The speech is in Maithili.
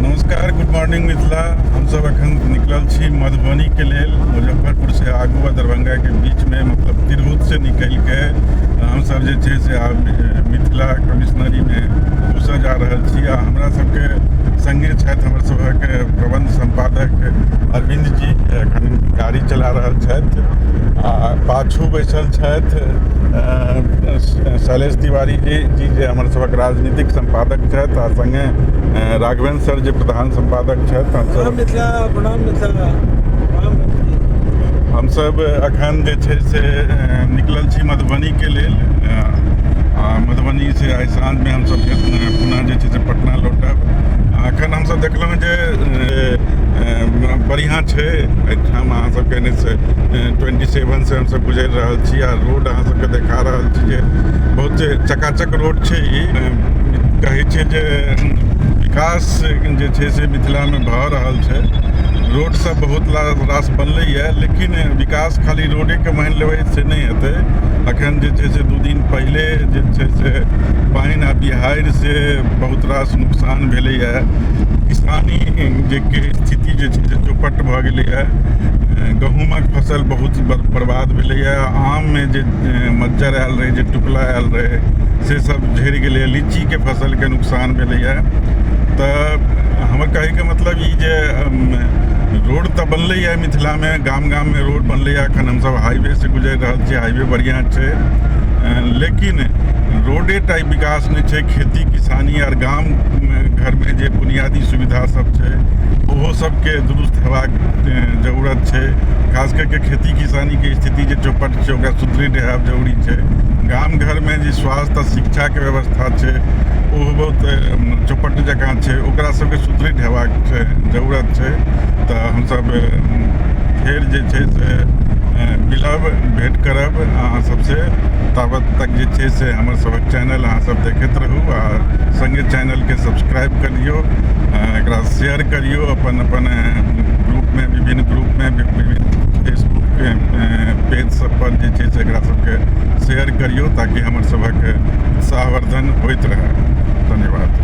नमस्कार गुड मॉर्निंग मिथिला हमसभ एखन निकलल छी मधुबनीके लेल मुजफ्फरपुरसँ आगू आ दरभंगाके बीचमे मतलब तिरहुतसँ निकलि कऽ हमसभ जे छै से आब मिथिला कमिश्नरीमे घुसऽ जा रहल छी आ हमरा सभके सङ्गे छथि हमर सभक प्रबंध सम्पादक अरविन्द जी एखन गाड़ी चला रहल छथि आ पाछू बैसल छथि शैलेश तिवारी जी जी जे हमर सभक राजनीतिक सम्पादक छथि आ सङ्गे राघवेन्द्र सर जे प्रधान सम्पादक छथि हमसभ हमसभ एखन जे छै से निकलल छी मधुबनीके लेल आ मधुबनी से आइ साँझमे हमसभ पुनः जे छै से पटना लौटब आ एखन हमसभ देखलहुँ जे बढ़िआँ छै एहिठाम अहाँसभके एन एच ट्वेन्टी सेवनसँ हमसभ गुजरि रहल रहल छी आ रोड अहाँ सबके देखा रहल छी जे बहुत चकाचक रोड छै ई कहै छै जे विकास जे छै से मिथिलामे भऽ रहल छै रोड सब बहुत रास बनलैए लेकिन विकास खाली रोडेके मानि लेबै से नहि हेतै अखन जे छै से दू दिन पहिले जे छै से पानि आ बिहाड़ि से बहुत रास नुकसान भेलैए किसानी जे स्थिति जे छै से चौपट भऽ गेलैए गहूँमक फसल बहुत बर- बर्बाद भेलैए आममे जे ए, मज्जर आयल रहै जे टुकला आयल रहै से सब झड़ि गेलैए लीचीके फसलके नुकसान भेलैए तऽ हमर कहैके मतलब ई जे अम, रोड तऽ बनलैए मिथिलामे गाम गाममे रोड बनलैए एखन हमसब हाईवेसँ गुजरि रहल छी हाईवे बढ़िआँ छै अ, लेकिन रोडे टा विकास नहि छै खेती किसानी आर गाम घरमे जे बुनियादी सुविधा सब छै ओहो सब के दुरुस्त हेबाक जरूरत छै खास करके खेती किसानीके स्थिति जे चौपट छै ओकरा सुदृढ़ हेबाक जरूरी छै गाम घरमे जे स्वास्थ्य आ शिक्षाके व्यवस्था छै ओ बहुत चौपट जकाँ छै ओकरा सबके सुदृढ़ हेबाक छै जरूरत छै तऽ हमसब फेर जे छै से मिलब भेट करब अहाँ सबसे ताबत तक जे छै से हमर सबक चैनल अहाँ सब देखैत रहू आ सङ्गे चैनलके सब्सक्राइब करियौ एकरा शेयर करियो अपन अपन ग्रुप में विभिन्न ग्रुप में विभिन्न फेसबुक पेज सब पर जे छै से एकरा सबके शेयर करियो ताकि हमर सबक सावर्धन होइत रहे धन्यवाद